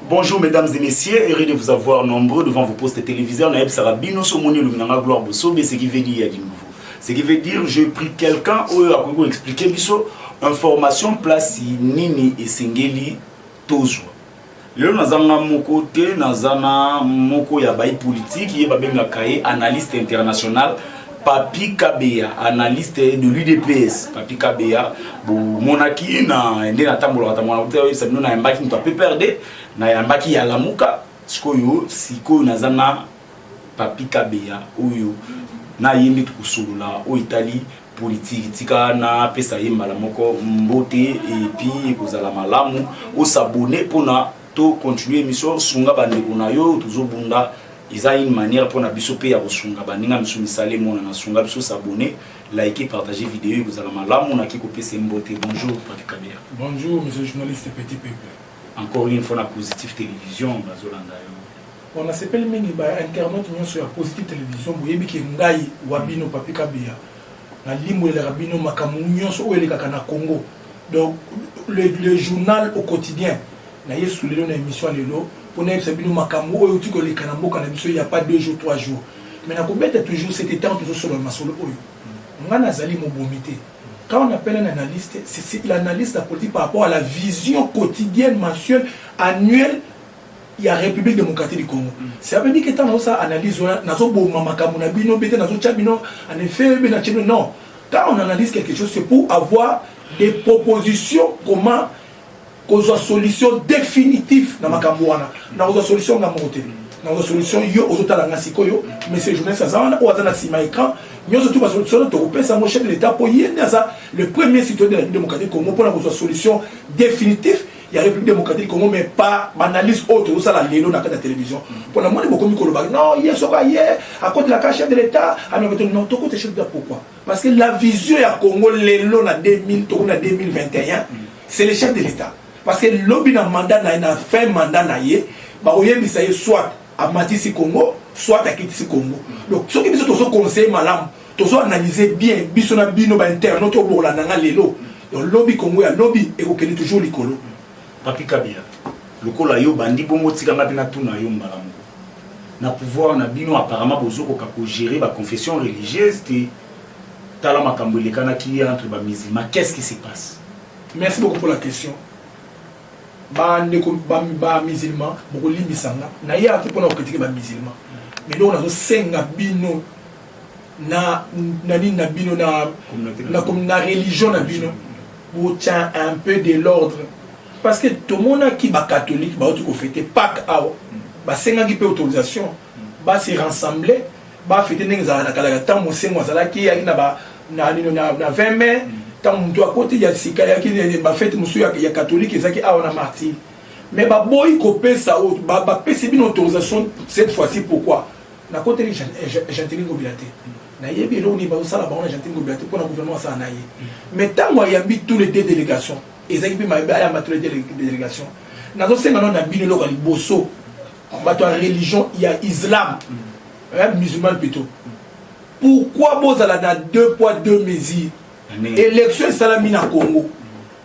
Bonjour mesdames et messieurs, heureux de vous avoir nombreux devant vos postes téléviseurs. Naeb Sarabino, Somoni Luminanga Gloire Bosso, mais ce qui veut dire du nouveau. Ce qui veut dire, j'ai pris quelqu'un, ou à quoi expliquer, biso, information, place, nini, et singeli, tozo. lelo naza nga moko te naza na moko ya bai politike ye babengaka ye analyste international Papy Kabeya, analyste de l'UDPS. Papy Kabeya, bomonaki na nde natambolaka tambolaka te oyebisa bino nayambaki moto ya PPRD, nayambaki ya Lamuka, sikoyo sikoyo naza na Papy Kabeya oyo na ye nde tokosolola oyo etali politiki tika napesa ye mbala moko mbote epi ekozala malamu osabone mpona to continue émission sunga bandeko na yo tozobunda eza une manière pona biso pe ya kosunga baninga misu misala emonana sunga biso s'abonner like partager video ekozala malamu naki kopesa mbote bonjour papi kabia bonjour monsieur journaliste petit peuple encore une fois na positif télévision bazolanda yo bon nasepeli mingi ba internaute nyonso ya positif télévision boyebi ke ngai wa bino papi kabia nalimbwelaka bino makambo nyonso oyo elekaka na congo donc le, le journal au quotidien na yesu lelo na émission lelo mpo nayebisa bino makambo oyo euti koleka na mboka na biso il y a pas deux jours trois jours mais nakobeta toujours cet étant tozosolola masolo oyo ngai nazali mobomi te quand on appelle un analyste c'est l'analyse de la politique par rapport à la vision quotidienne mensuelle annuelle ya République démocratique du Congo. Mm. C'est avec que tant ça analyse ouais, nazo boma makambo na bino bete nazo tia bino en effet mais na chino non. Quand on analyse quelque chose c'est pour avoir des propositions comment kozwa solution définitive na makambo wana. Na kozwa solution na mokote. Na kozwa solution yo ozotala nga sikoyo monsieur journaliste aza wana oyo aza na sima écran nyonso tu basolution oyo tokopesa yango chef de l'état mpo ye nde aza le premier citoyen de la démocratique congo mpona kozwa solution définitive ya république démocratique congo mais pas banalyse oyo tozosala lelo na kati ya télévision mpo na moni bokomi kolobaki non ye soki aye akotelaka chef de l'état amekete non tokota chef de l'état pourquoi parce que la vision ya congo lelo na 2000 tokomi na 2021 c'est le chef de l'état parce que lobi na mandat na ye na fin mandat na ye bakoyebisa ye soit amatisi congo soit akitisi congo donc soki biso tozo conseille malamu tozo analyse bien biso na bino bainternaute oyo bolanda nga lelo mm. Donc lobi Congo ya lobi ekokende toujours likolo. Papi Kabila, lokola yo bandi bongo tika ngapi na tuna yo mbala moko. Na pouvoir na bino apparemment bozo koka ko gérer ba confessions religieuses te. Tala makambo elekanaki entre ba musulmans, qu'est-ce qui se passe? Merci beaucoup pour la question. bandeko bamisilma bokolimbisa nga naye ate mpona kokritike bamisilma mais ndoko nazosenga bino na na nini na bino na na na religion na bino botya un peu de l'ordre parce que tomonaki bakatholike bauti kofete pake awa basengaki mpe autorisation base rassemble bafete ndenge ezalaka na kalaka ntango mosengo azalaki eyaki na ba na nino na 20 mai ntango motu akoti ya sika yaki bafete mosusu ya katholike ezalaki awa na martyr mais baboyi kopesa bapesi bino autorisation cette fois-ci pourquoi Nakoteli Gentiny Ngobila te. Nayebi eloko nini bazosala bango na Gentiny Ngobila te mpo na gouvernement asala na ye. Mais ntango ayambi tous les deux délégations, ezalaki mpe mabe ayamba tous les deux délégations. Nazosenga nao na bino eloko ya liboso, bato ya religion ya islam, eh, musulman plutôt. Pourquoi bozala na deux poids deux mesures? Élection esalami na Congo.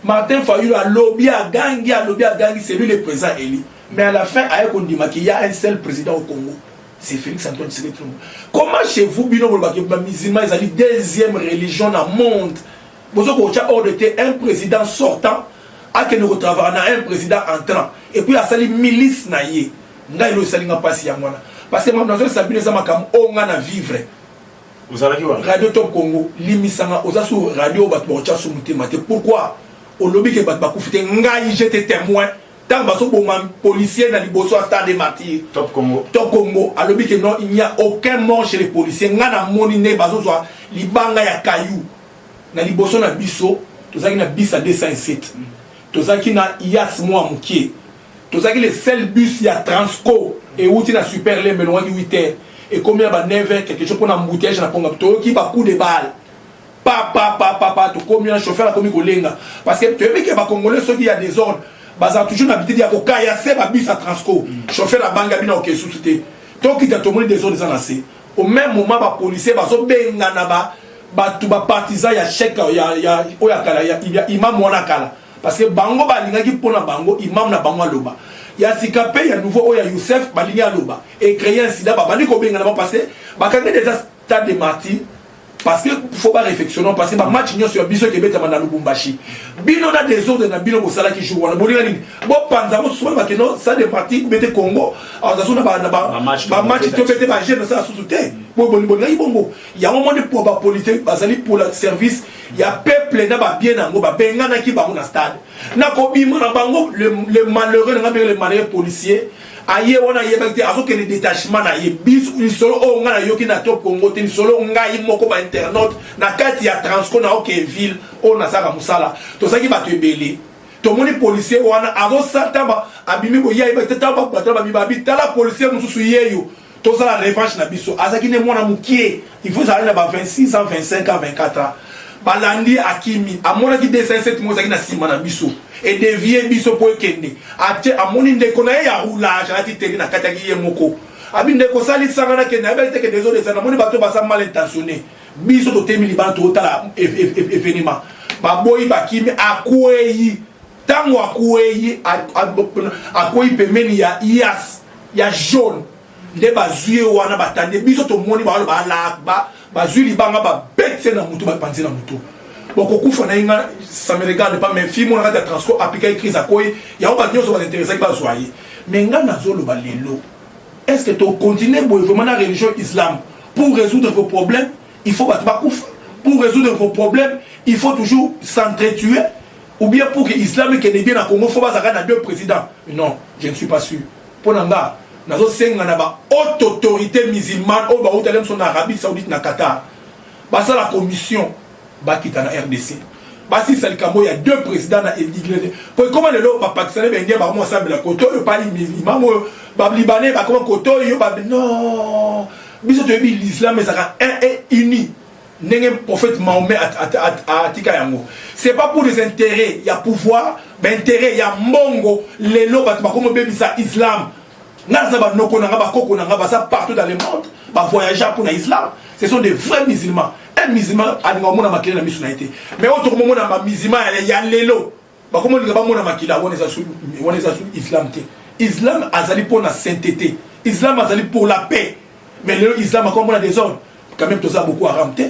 Martin Fayulu alobi agangi alobi agangi c'est lui le président élu. Mais à la fin, aye kondima qu'il y a un seul président au Congo. C'est Félix Antoine Tshisekedi Tshilombo. Comment chez vous, bino bolobaka ba musulmans ezali deuxième religion na monde. Bozo ko tia ordre te un président sortant akende ko travailler na un président entrant et puis asali milice na ye. Ngai lo esali nga pasi yango wana. Parce que makambo nazolisa bino eza makambo oyo nga na vivre. Ozalaki wana? Radio Top Congo limisanga oza sur radio bato bakotya su motema te. Pourquoi? Olobi ke bato bakufi te. Ngai j'étais témoin Tango bazo boma policier na liboso ya stade martyr Top Congo Top Congo alobi que non il n'y a aucun mort chez les policiers nga na moni nde bazo zwa libanga ya caillou na liboso na biso tozaki na bus ya 207 tozaki na yas mwa mokie tozaki le seul bus ya transco ewuti na super lembe elongaki 8 heures ekomi na ba 9 heures quelque chose mpo na embouteillage na ponga toyoki ba coup de balle Papa papa papa tokomi na chauffeur akomi kolenga parce que toyebi ke ba congolais soki ya desordre bazala toujours na bitidi ya kokaya se ba bus ya transco chauffeur abangi abina oke susu te tokita tomoni desordre eza na se au même moment ba policier bazobengana ba bato ba partisan ya chek ya ya oyo ya kala ya imam wana kala parce que bango balingaki mpo na bango imam na bango aloba ya sika mpe ya nouveau oyo ya youssef balingi aloba ecreye insida babandi kobengana bango parce que bakangaki deja Stade de Martyrs parce que faut ba réfectionner parce que ba match nionso ya biso ekebetama na Lubumbashi bino na désordre na bino bosalaki jour wana bolinga nini bopanza mosusu wana bakeno sa de parti bete congo azasu na bamatch to bete baje na sala susu te bolingaki bongo yango moni po bapolitike bazali pola service ya peuple na babie na yango babenganaki bango na stade na kobima na bango le malheureux na ngai le malheureux policier aye wana ayebaki te azokende detachement na ye lisolo oyo ngai nayoki na top congo te lisolo ngai moko ba internaute na kati ya transco na oke ville oyo nasalaka mosala tozalaki bato ebele tomoni policier wana azosata abimi koya ayebaki te tala bato batala babibabi tala policier mosusu yeyo tozala revanche na biso azalaki nde mwana mokie il faut ezalaki na ba 26 ans 25 ans 24 ans balandi akimi amonaki 207 mo ezalaki na nsima na biso edevie biso mpo ekende atie amoni ndeko na ye ya roulage alati teni na kataki ye moko abi ndeko osalisanga nakende ayebaki te kende ezodesa namoni bato baza mal intentionne biso totemi libala totala evenema baboyi bakimi akweyi Tango akueyi akueyi pembeni ya yas ya jaune nde bazwi ye wana batande biso tomoni baloba Allah Akbar bazwi libanga babeti ye na motu bapanzi na motu bokokufa na ye nga ça me regarde pas mais fille mona kati ya transco aplikaki crise akoyi yango bato nyonso bainteresaki bazwa ye mais nga nazoloba lelo est ce que tokontinue boye vraiment na religion islam pour résoudre vos problèmes il faut bato bakufa pour résoudre vos problèmes il faut toujours s'entretuer ou bien pour que islam ekende bien na congo fo bazala kaka na deux président non je ne suis pas sûr mpo na nga nazosenga na ba haute autorité musulmane oyo bautaki biso na arabie saoudite na qatar basala commission bakita na rdc basilisa likambo ya deux président na eliglese mpo ekoma lelo bapakistane baindien bakoma osambela koto oyo pali milimango oyo balibane bakoma koto oyo babi non biso toyebi l'islam ezalaka un et uni ndenge prophète Mahomet atika yango c'est pas pour des intérêts ya pouvoir mais intérêt ya mbongo lelo bato bakomi obebisa islam nga naza banoko na nga bakoko na nga baza partout dans le monde bavoyagea mpo na islam ce sont des vrais musulmans un musulman alinga omona makele na miso na ye te mais oyo tokomomona bamusulman ya lelo bakoma olinga bamona makila wana eza su wana eza su islam te islam azali mpo na sainteté islam azali pour la paix mais lelo islam akoma mpo na désordre quand même toza boko haram te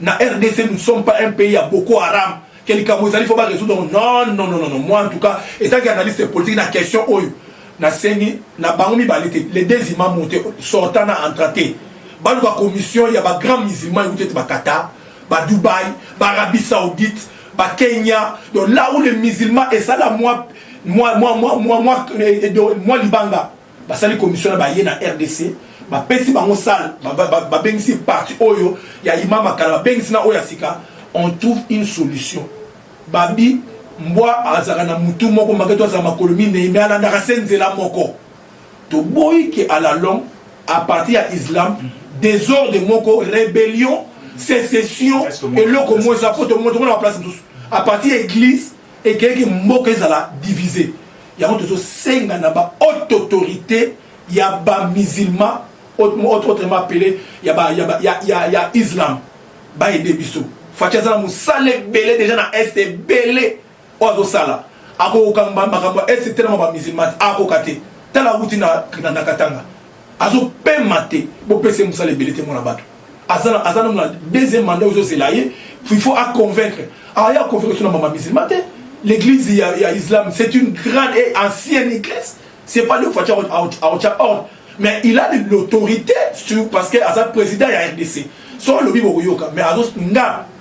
na rdc nous sommes pas un pays ya boko haram ke likambo ezali fo baresoudre yango non non non non moi en tout cas etanki analyste politique na question oyo nasengi na bango mibale te les deux imam mote sortant na entra te baluka commission ya bagrand musulman ekuti ete bakata badubai baarabie saoudite ba Kenya donc là où les musulmans et ça là moi moi moi moi moi moi eh, moi libanga basali commission na baye na RDC bapesi bango sale babengisi parti oyo ya imama kala babengisi na oyo ya sika on trouve une solution babi mbwa azalaka na mutu moko maketo azala makolo minei me alandaka se nzela moko Toboyi que à la longue à partir ya islam desordre moko rebellion secession eloko moko eza po tomongo tomona ba place mosusu à partir ya église ekeyaki mboka ezala divise yango tozosenga na ba haute autorité ya ba musulman autrement appelé ya, ba, ya, ba, ya, ya, ya islam baede biso faci aza na mosala ebele deja na est ebele oyo azosala akokoka makambo ya est te na ba musulman akoka te tala awuti na, na, na katanga azopema te bopesa ye mosala ebele te mwana bato aza aza nanu na deuxième mandat ozozela ye il faut aconvaincre aya aconvaincre so na mama musulman te l'église ya, ya islam c'est une grande et ancienne église c'est pas le fatya aotya ordre mais il a de l'autorité sur parce que aza président ya rdc so alobi bokoyoka mais azo nga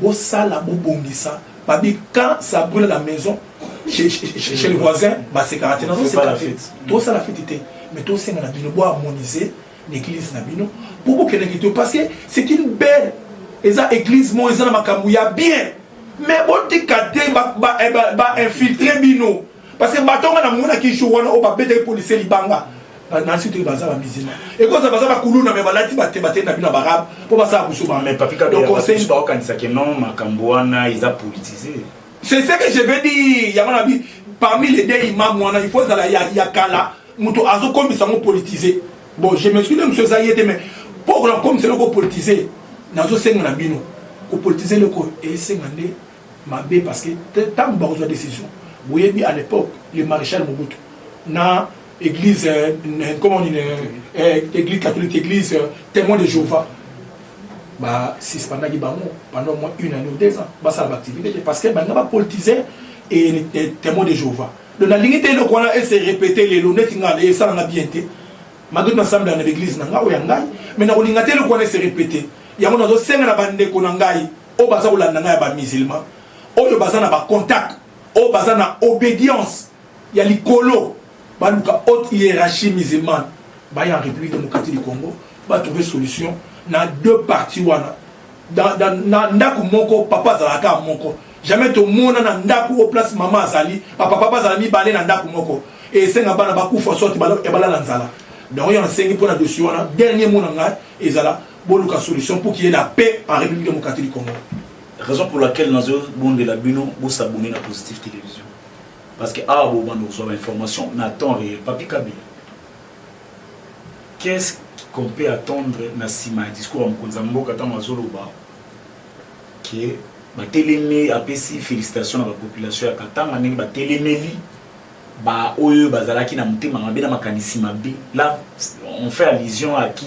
Bosala bobongisa ba bi quand ça brule la maison chez chez le voisin ba sekaka te nazo seka te tosala fete te mais tosenga na bino bo harmoniser na église na bino po bokende kito parce que c'est une belle eza église mo eza na makambo ya bien mais botika te ba ba ba infiltrer bino parce que bato nga namonaki jour wana oyo babetaki policier libanga nansi toki baza bamizima ekoza baza bakuluna me balati bate batei na bino barabe mpo basala busubaokanisaki non makambo wana eza politise c'est ce que je veux dire yango na bi parmi les deux imam wana il faut ezala ya kala moto azokomisa yango politise bon je me suis de mosu eza ye te mais mpo okola kokomisa eloko politise nazosenga na bino kopolitize eloko esenga nde mabe parce que tangu bakozwa decision boyebi à l'époque le maréchal Mobutu na église euh, comment on euh, église catholique église euh, témoin de Jéhovah ba suspendaki bango pendant au moins une année ou deux ans basala ba activité te parce que banda ba politiser et témoin de Jéhovah donc nalingi te eloko wana ese répéter lelo neti ngai naye esalanga bien te malgré nasambela na l'église na ngai oyo ya ngai mais nakolinga te eloko wana ese répéter yango nazosenga na bandeko na ngai oyo baza kolanda ngai ya ba musulman oyo baza na ba contact oyo baza na obedience ya likolo baluka haute hiérarchie musulmane baya en république démocratique du congo batrouve solution na deux parti wana na ndako moko papa azalaka moko jamais tomona na ndako oyo place mama azali bapapa bazala mibale na ndako moko esenga bana bakufa sorte ya balala nzala donc yango nasengi mpo na dosi wana dernier mot na ngai ezala boluka solution pour qu'il y ait la paix en république démocratique du congo raison pour laquelle nazo bondela bino bosabone na positive télévision parce que awa bobanda kozwa bainformation na temps réel papi kabila qu'est ce qu'on peut attendre na nsima ya discours ya mokonzi ya mboka ntango azoloba ke batelemi apesi félicitation na bapopulation ya katanga ndenge batelemeli baoyo bazalaki na motema mabe na makanisi mabe la on fait allusion à qui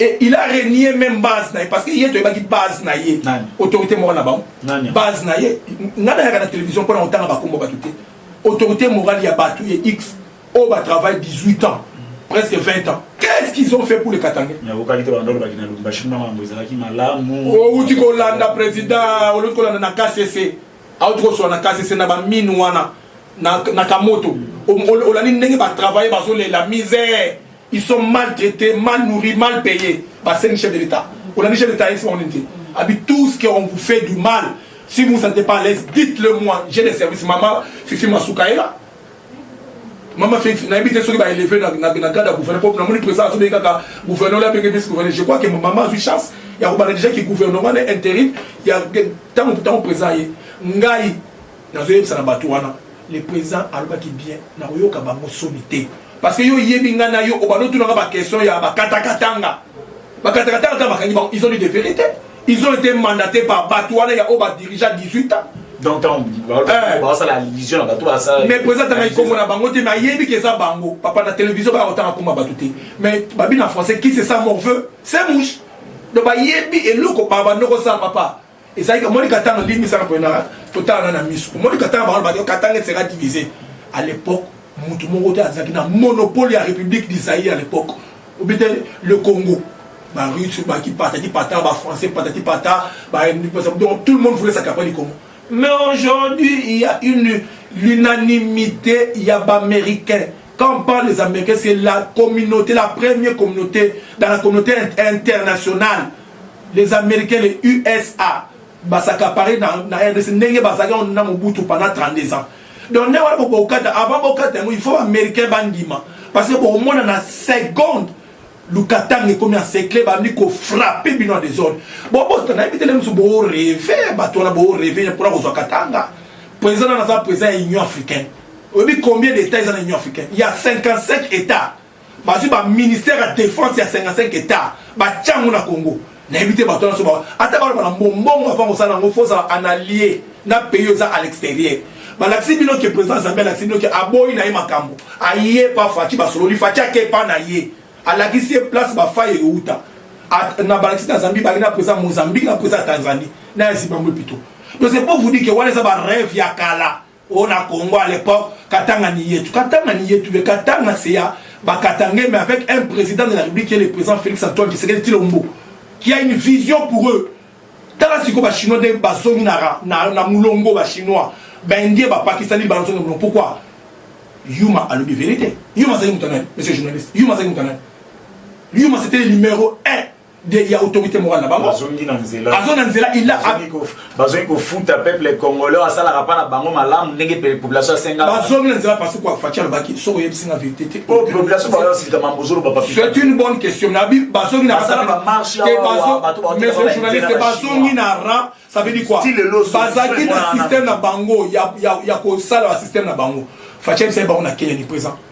Et il a renié même base na ye parce que ye toyebaki base na ye autorité morale na bango base na ye ngai nayaka na télévision mpo na kotanga bakombo bato te autorité morale ya bato ye x oyo oh, batravaille 18 ans presque 20 ans qu'est-ce qu'ils ont fait pour le katangais owuti kolanda président oluti kolanda na kcc auti koswana kasi se na bamine wana na kamoto olandi ndenge batravaille bazolela misère ils sont maltraités mal nourris mal payés basengi chef de l'état olandi chef de l'état yesi bango nini te abi tout ce que on vous fait du mal si vous ne sentez pas à l'aise dites le moi j'ai des services mama fifi masukaela mama feti nayebi te soki baeleve na grade ya gouverneur po namoni président azobei kaka gouverneur la benge vice gouverneur je crois que mama azwi chance ya kobanda déjà ki gouvernement na intérim ya ntango ntango président ye ngai nazoyebisa na bato wana le président alobaki bien nakoyoka bango soni te parce que yo oyebi ngai na yo obanda otunanga baquestion ya bakatakatanga bakatakataka ata bakangi bango ils ont dit de vérité ils ont été mandatés par bato wana ya oyo badirigea 18 ans donc ntango eh. basala allusion na bato basala mais président atanga ikombo na bango te mais ayebi ke eza bango papa na télévision baya kotanga komba bato te mais babi na français qui se sent morveux c'est mouche donc bayebi eloko banoko sala papa ezalaki omoni katanga ndenge misala mpona totalana na miso omoni katanga bango baki katanga esera divise à l'époque motu moko te azalaki na monopole ya république du zaïre à l'époque obite le congo barusse baki patati pata bafrançais patati pata donc tout le monde voulait s'accaparer du congo mais aujourd'hui il y a une l'unanimité ya baaméricain quand on parle des américains c'est la communauté la première communauté dans la communauté internationale les americains les usa ba s'accaparer na, na rdc ndenge bazalaki yango na mobutu pendant 32 ans donc nde wana bokokata avant bokata yango il faut baaméricain bandima parce que bokomona na seconde lukatanga ekomi en secret bandi kofrappe bino ya desordre bobota nayebi te lemosu boreve bato wana boreve mpona kozwa katanga président wana aza président ya union africaine oyebi combien d'état eza na union africaine ya 55 état bazwi ba ministère ya defense ya 55 hectare batya yango na congo nayebi te bato nyonso ba ata baloba na mbongo avant kosala yango fo ozala en allié na pays oyo eza à l'extérieur balakisi bino ke président zambi alakisi bino ke aboyi na ye makambo aye pa faci basololi faci ake pa na ye alakisi ye place bafai euta na balakisi na zambi baki na président mozambique na président ya tanzanie na ya zimbabwe pito donc c'est pour vous dire ke wana eza barêve ya kala o na Congo à l'époque Katanga Niyetu Katanga Niyetu mais Katanga c'est ya Bakatangais mais avec un président de la République qui est le président Félix Antoine Tshisekedi Tshilombo qui a une vision pour eux tala sikoyo bachinois nde bazongi na, na, na mulongo bachinois baindie bapakistani bazongi na mulongo pourquoi yuma alobi verité yuma azali moto nani monsieur journaliste yuma azali moto nani yuma c'était le numéro 1 de ya autorité morale na bango azongi na nzela azo na nzela il a bazongi kofuta peuple congolais asalaka pa na bango malamu ndenge population asenga bazongi na nzela parce quoi fatia lobaki soko oyebisi nga vérité te oh population ba yosilika mambo zolo ba papi c'est une bonne question na bi bazongi na basala ba marche te bazo mais ce journaliste bazongi na ra ça veut dire quoi bazaki na système na bango ya ya ya ko sala système na bango fatia bisa bango na Kenya ni présent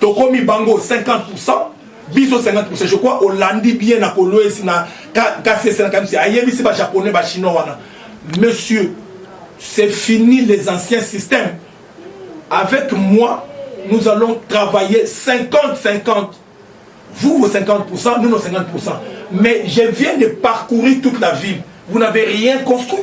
tokomi bango 50% biso 50% je crois olandi bien na kolwesi na kasese na kamisi ayebisi ba japonais ba chinois wana monsieur c'est fini les anciens systèmes avec moi nous allons travailler 50 50 vous vos 50% nous nos 50% mais je viens de parcourir toute la ville vous n'avez rien construit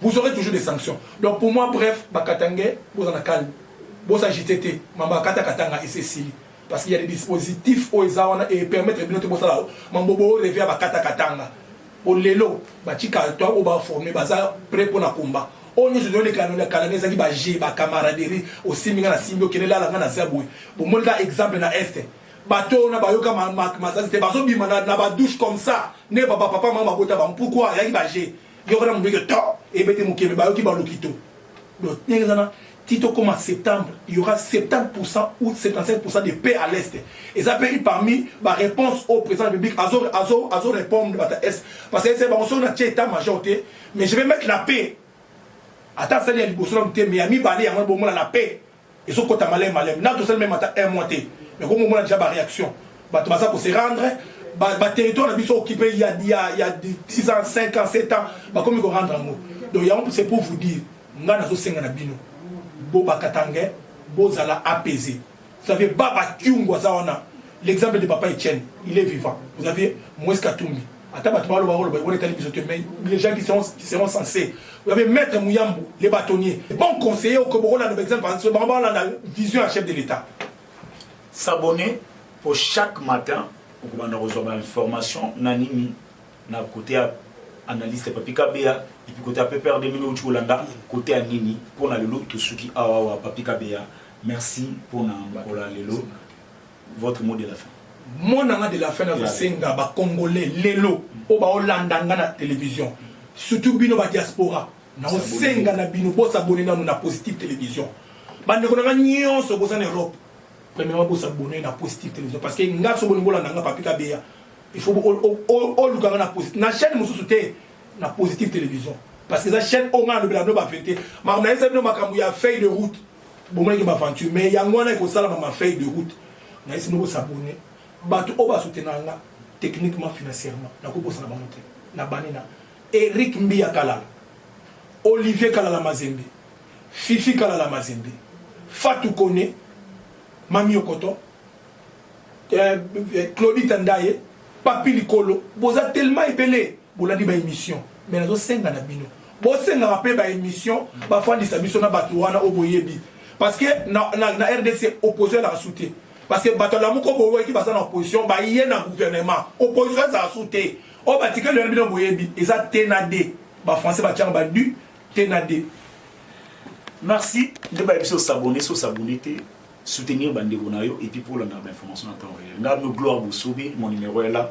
Vous aurez toujours des sanctions. Donc pour moi, bref, Bakatangais, vous en a calme. Vous s'agitez, Mamba Kata Katanga et Cécile. Parce qu'il y a des dispositifs au Ezawana et permettre de noter Bosalao. Mambobo revient à Bakata Katanga. Au Lelo, Batika, toi, au bas formé, Baza, prêt pour la combat. oyo nyonso ezoleka na kalanga ezalaki baje bacamaraderie osimbi ngai nasimbi okende lala ngai naza boye bomoni ka exemple na este bato oyo na bayoka masasi te bazobima na badouche comme ça nde bapapa mama babota bango pourkui ayaki baje Yoka na mutu ke to ebete mokebe bayoki ba lokito. Donc ndenge zana ti tokoma septembre il y aura 70% ou 75% de paix à l'est eza mpe une parmi ba réponse au président de république azo, azo, azo répondre bata est parce que ese bango soki natie état major te mais je vais mettre la paix ata asali ya liboso nanu te mais ya mibale yango bomona la paix ezo kota malem malem na tosali meme ata un mois te mais ko mona déjà ba réaction bato baza ko se rendre ba, ba territoire na biso occupé ya ya ya 10 ans 5 ans 7 ans ba komi ko rendre yango donc yango c'est pour vous dire nga nazo senga na bino bo ba katangais bozala apaisé vous savez baba kiungu aza wana l'exemple de papa Etienne il est vivant vous avez Moïse Katumbi Ata bato baloba baloba yango etali biso te, mais les gens qui seront, qui seront censés. Vous avez maître Muyambu, les bâtonniers, les bons conseillers au Kobo, là, par exemple, parce que bango balanda vision ya chef de l'État. S'abonner pour chaque matin okobanda kozwa ba information na nini na kote ya analyste papi kabeya epuis kote ya ppr 2000 outi kolanda kote ya nini mpo na lelo tosuki awawa papi kabeya merci mpo na mokolo ya lelo Votre mot de la fin. Mot na nga de la fin nazo senga ba congolais lelo oyo bao landa nga na television surtout bino ba diaspora nao senga na bino bo s'abonner nanu na positive television ba ndeko na nga nyonso boza na Europe premièrement bo s'abonner na positive television parce que nga so boni bolanda nga papi kabeya il faut oluka nga na positive na chaîne mosusu te na positive television parce que eza chaîne oyo nga nalobela bino ba verité makambo nayebisa bino makambo ya feuille de route bomonaki ba aventure mais yango wana ekosalama ma feuille de route nayesi bino bosabone bato oyo basoutenaka nga techniquement financièrement nakobosana bango te na bani na eric mbiya kalala olivier kalala mazembe fifi kalala mazembe fatu kone mami okoto eh, eh, claudita ndaye papi likolo boza tellement ebele bolandi ba emission mais nazo senga na bino bosengaka mpe ba emission bafandisa biso na bato wana oyo boyebi parce que na, na, na rdc opposition ezalaka su te parce que bato alamu ko boyoki baza na opposition baye na gouvernement opposition ezala su te oyo batikali wana bino boyebi eza te na de bafrançais batiaka badu te na de merci nde bayebi biso sabone so sabone te soutenir bandeko na yo epuis mpo olandaka bainformation na temps réel ngai no gloire bosobe mon numéro est là